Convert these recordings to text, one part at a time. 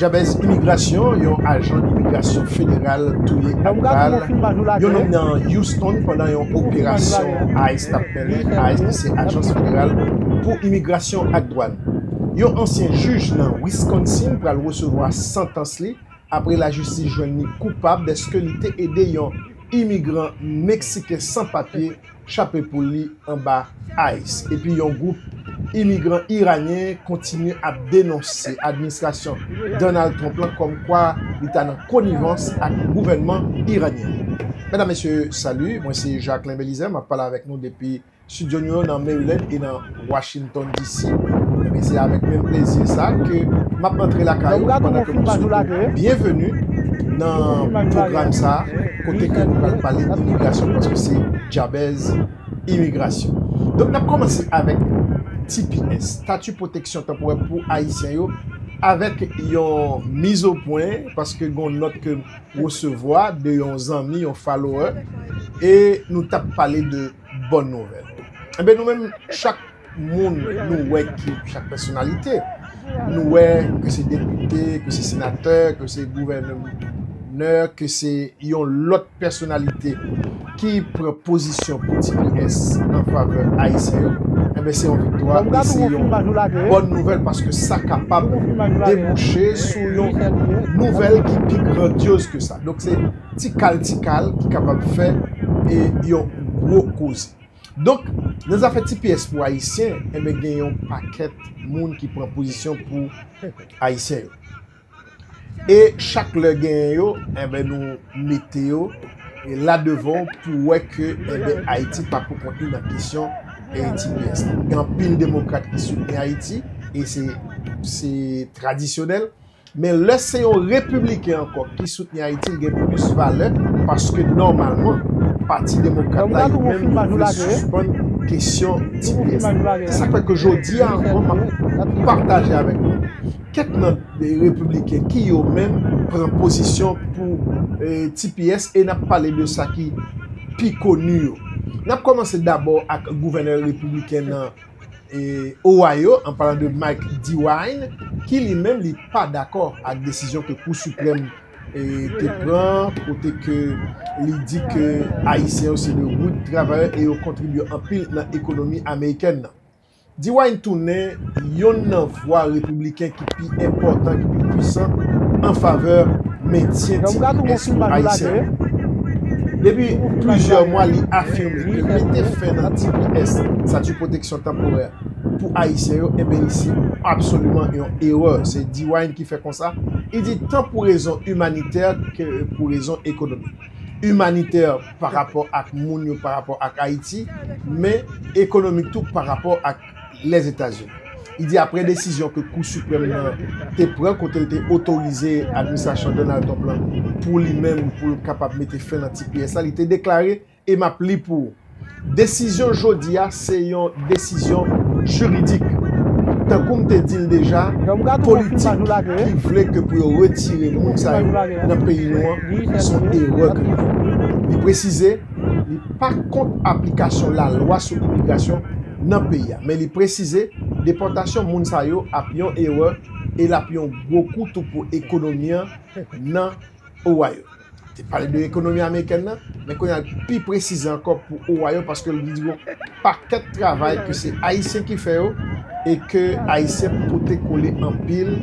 Djabèz Imigrasyon, Yon ajan imigrasyon federal touye ak bal yon nonm nan Houston pandan yon operasyon ice tap mennen. Ice ki se ajans federal pou imigrasyon ak dwàn. Yon ansyen jij nan Wisconsin pral resevwa santans li apre lajistis jwenn li koupab deske li te ede yon imigran Meksiken san papye chape poul li anba ice epi yon gwoup imigran iranyen kontinye ap denonse administrasyon Donald Trump lan kòm kwa li ta nan konivans ak gouvènman iranyen an. Medam mesye salut, mwen se Jacquelin Belizaire map pale avèk nou depi studio nou yo nan Maryland e nan. Washington DC Ebyen se avèk menm plezi sa ke map antre lakay ou pandan ke map swete ou byenveni nan pwogram sa kote ke nou pral pale imigrasyon paske se Djabèz Imigrasyon. Donk nap kòmanse avèk tps, Tati Pwoteksyon Tanporè pou Ayisyen yo avèk yon mizopwen paske gon nòt ke resevwa de yon zanmi, yon follower e nou tap pale de Bòn nouvèl. Enben nou menm chak moun nou wè ki chak pèsonalite, nou wè ke se depite, ke se senatè, ke se gouvènè, ke se yon lòt pèsonalite ki pran pozisyon pou tps an favè Ayisyen yo, enben se yon viktwa e se yon bòn nouvèl paske sa kapab debouche sou yon nouvèl ki pi grandyoz ke sa. ti kal ti kal ki kapab fè e yon gwo koze. Donk, nan zafè ti pyès pou Ayisyen, enben gen yon pakèt moun ki pran pozisyon pou Ayisyen yo. E chak lè genyen yo, enben nou mete yo la devan pou wè ke enben Ayiti pa pou kont li nan kesyon ti pyès la. Gen anpil demokrat ki soutni Ayiti e se tradisyonèl. Men lè se yon repibliken ankò ki soutni Ayiti li gen plis valè paske nòmalman pati demokrat la yo menm yo vle sispann kesyon tps la. Se sa k fè ke jodi a ankò m ap pataje avèk nou kèk nan repibliken ki yo menm pran pozisyon pou tps e n ap pale de sa ki pi koni yo. N ap kòmanse dabò ak gouvènè repibliken nan. Ohio, an palan de Mike DeWine, ki li menm li pa dakò ak desizyon ke Kou Siprèm te pran kote ke li di ke Ayisyen yo se de rud travayè e yo kontribye anpil nan ekonomi amerikèn nan. DeWine tounen yonn nan vwa Repibliken ki pi enpòtan, ki pi pwisan an favè mentyen ti diaspora ayisyen an. Depi plizyè mwa li afime ke mete fen nan tps, Statut de Protection Temporaire, pou ayisyen yo, enben li se absoliman yon erè. Se Dewine ki fè konsa, li di tan pou rezon imanitè ke pou rezon ekonomik. Imanitè pa rapò ak moun yo, pa rapò ak Ayiti, men ekonomik tou pa rapò ak. Lèzetazini. Li di apre desizyon ke Kou Siprèm nan te pran kote l te otorize administrasyon Donald Trump lan pou li menm pou l kapab mete fen nan tps la, li te deklare e m ap li pou ou, Desizyon jodi a se yon desizyon jiridik. Tankou m te di l deja, politik ki vle ke pou yo retire moun sa yo nan peyi nou an se yon erè ke yo fè. Li presize li pa kont aplikasyon lalwa sou imigrasyon, nan peyi a men li presize depòtasyon moun sa yo ap yon erè e lap yon gwo kou tou pou ekonomi an nan Ohio. Li te pale de ekonomi amerikèn nan men kounye a li pi presize ankò pou Ohio paske li di gon pakèt travay ke se ayisyen ki fè yo e ke ayisyen pote kole anpil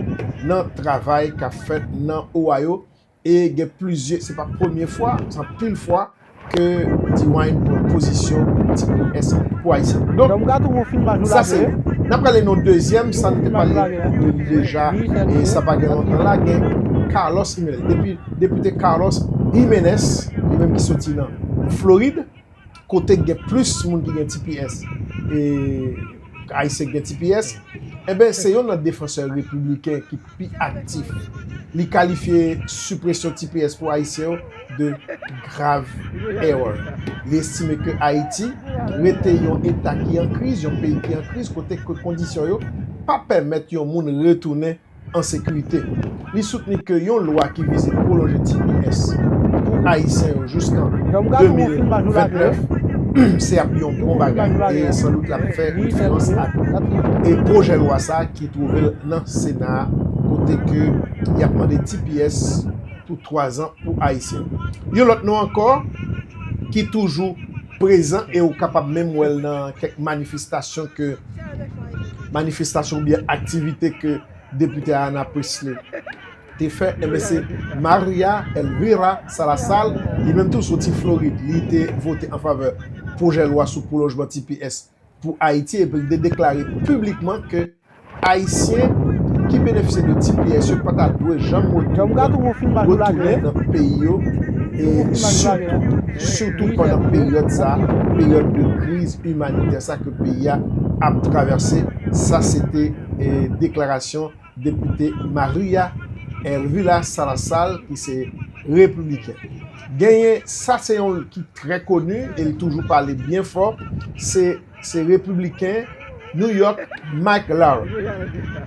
nan travay kap fèt nan Ohio E gen plizye, se pa premye fwa, se anpil fwa ke D-Wine pran pozisyon pou ti kou S pou Ayisyen. Donk, sa se youn. N ap prale nan dezyèm, sa nou te pale de li deja, e sa pa gen lontan la, gen Carlos Jimenez. Depite Carlos Jimenez, li menm ki soti nan Florid. kote k gen plis moun ki gen tps e Ayisyen ki gen tps, enben se youn nan defansè repibliken ki pi aktif. Li kalifye sipresyon tps pou Ayisyen yo de grave erreur. Li estime ke Ayiti rete yon eta ki an kriz, yon peyi ki an kriz kote ke kondisyon yo pa pèmèt yon moun retounen an sekirite. Li soutni ke yon lwa ki vize pwolonje tps pou Ayisyen yo jouskan 2029 se ap yon bon bagay e san dout lap fè diferans ak pwojè lwa sa ki twouve l nan Sena a kote ke yap mande tps pou 3 zan pou Ayisyen. Yon lòt non ankò ki toujou. prezan e ou kapab menm wè l nan kèk manifestasyon ke manifestasyon oubyen aktivite ke Depite Ayanna Pressley te fè enben se Maria Elvira Salazar li menm tou soti Florid li te vote anfavè pwojè lwa sou pwolonjman tps pou Ayiti epi li te deklare piblikman ke Ayisyen ki benefisye de tps yo pa ta dwe janm retounen nan peyi yo e sitou pandan peryòd sa, peryòd de kriz imanitè sa ke peyi a ap travèse, sa se te deklarasyon. depite Maria Elvira Salazar ki se repibliken. Genyen sa se yon ki trè koni e li toujou pale byen fò se se repibliken New York Mike Lau.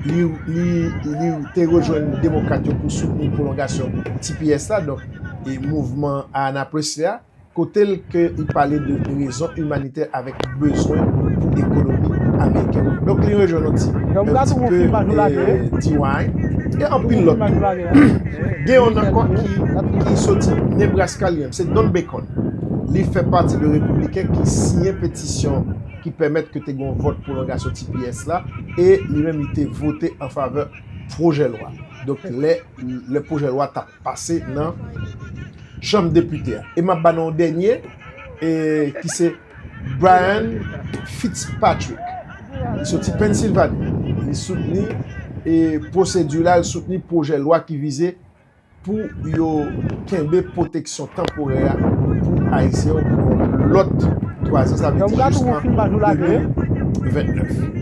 Li li te rejwenn demokrat yo pou soutni pwolongasyon tps la donk e mouvman Ayanaples la. Kote l ke i pale de rezon imanitè avèk bezwen pou ekonomi amerikèn. Donk li rejwenn yon ti e T-Wine e anpil lòt tou. Gen yon n ankò ki soti Nebraska li menm se Don Bacon. Li fè pati de repibliken ki siyen petisyon ki pèmèt ke te gen yon vòt pwolongasyon tps la e li menm li te vote anfavè pwojè lwa. Donk lè pwojè lwa tap. pase nan chanm depite a. E m ap ba nou yon dènye ki se Brian Fitzpatrick. Li soti Pennsilvani. Li soutni pwosedi la, li soutni pwojè lwa ki vize pou yo kenbe pwoteksyon tanporè a pou Ayisyen yo pou yon lòt 3 zan, sa vle di jiskan 2029.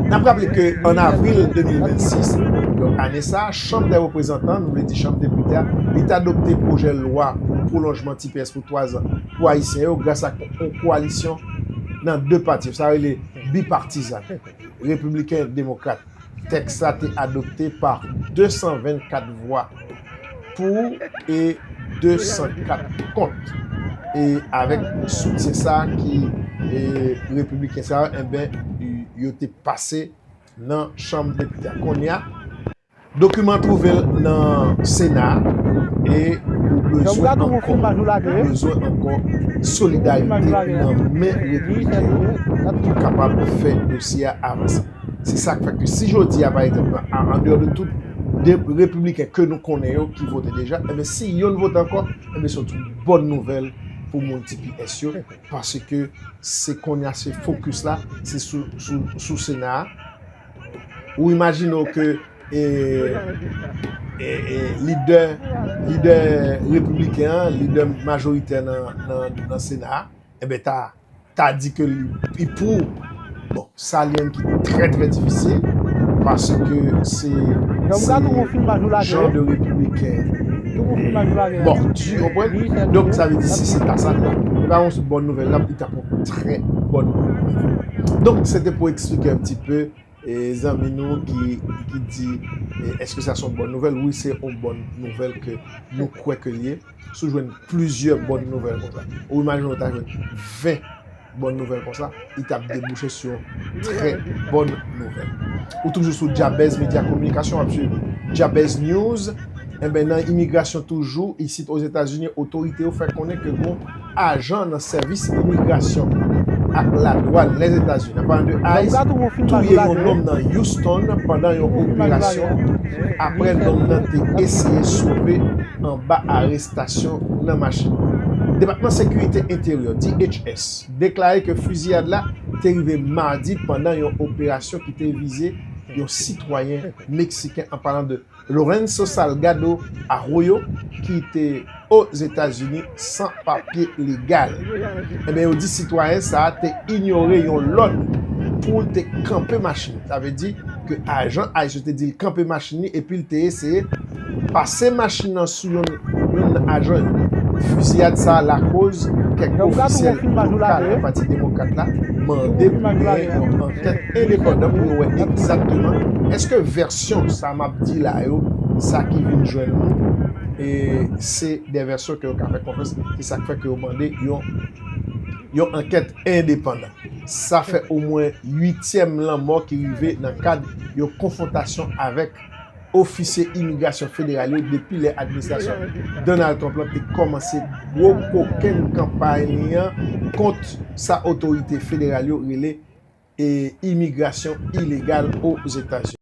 N ap raple ke an avril 2026, donk ane sa a, Chanm dè Reprezantan, nou vle di Chanm Depite a, li t adopte pwojè lwa pou pwolonjman tps pou 3 zan pou Ayisyen yo gras ak yon koalisyon nan 2 pati yo, sa rele bipartizan, Repibliken ak Demokrat. Tèks la te adopte pa 224 vwa pou e 204 kont. E avèk soutyen sa ki Repibliken sa yo, enben yo te pase. nan chanm depite a kounye a. Dokiman an twouve l nan Sena a e ou bezwen ankò ou bezwen ankò solidarite nan men repibliken yo pou nou kapab fè dosye a avanse. Se sa k fè ke si jodi a, pa egzanp, andeyò de tout de repibliken ke nou konnen yo ki vote deja, enben si yonn vote ankò, enben se yon bòn nouvèl pou moun tps yo. Paske se konnya se focus la se sou sena a. Ou imajine w ke lidè lidè repibliken an, lidè majoritè nan sena a, enben ta ta di ke li pou bon. Sa li menm ki trè trè difisil paske se jan de repibliken mordu ou konprann? Donk sa vle di si se ta sa li ta e pa yon bòn nouvèl nan li ta pran yon trè bòn nouvèl. Donk se te pou eksplike yon ti pe zanmi nou ki di eske sa se yon bòn nouvèl? Wi se yon bòn nouvèl ke nou kwè ke li ye. Si w jwenn plizyè bòn nouvèl konsa ou imajine w ta jwenn 20. Bon nouvèl konsa, li tap debouche sou yon trè bòn nouvèl. Ou toujou sou Jabez Media Communication wap swiv Jabez News. Enben nan imigrasyon toujou isit Ozetazini otorite yo fè konnen ke gon ajan nan sèvis imigrasyon ak ladwàn Lèzetazini an palan de ice touye yon nonm nan Houston pandan yon operasyon apre nonm nan te eseye sove anba arestasyon. arestasyon nan machin yo. Depatman Sekirite Enteryè, DHS, deklare ke fiziyad la te rive madi pandan yon operasyon ki te vize yon sitwayen meksiken an palan de Lorenzo Salgado Arroyo ki te Ozetazini san papye legal. Enben yo di sitwayen sa a te inyore yon lòd pou l te kanpe machin, sa vle di, ke ajan ice yo te di l kanpe machin li epi l te eseye pase machin nan sou youn nan ajan yo. Fiziyad sa a lakoz kèk ofisyèl lokal nan Pati Demokrat la mande pou genyen yon ankèt endepandan pou yo wè egzakteman èske vèsyon sa m ap di la yo, sa ki vin jwenn nou, se de vèsyon ke yo ka fè konfyans, se sa k fè ke yo mande yon ankèt. endepandan. Sa fè omwen uityèm lanmò ki rive nan kad yon konfwontasyon avèk ofisye imigrasyon federal yo depi lè administrasyon Donald Trump lan te kòmanse gwo kokenn kanpay li an kont sa otorite federal yo rele imigrasyon ilegal Ozetazini.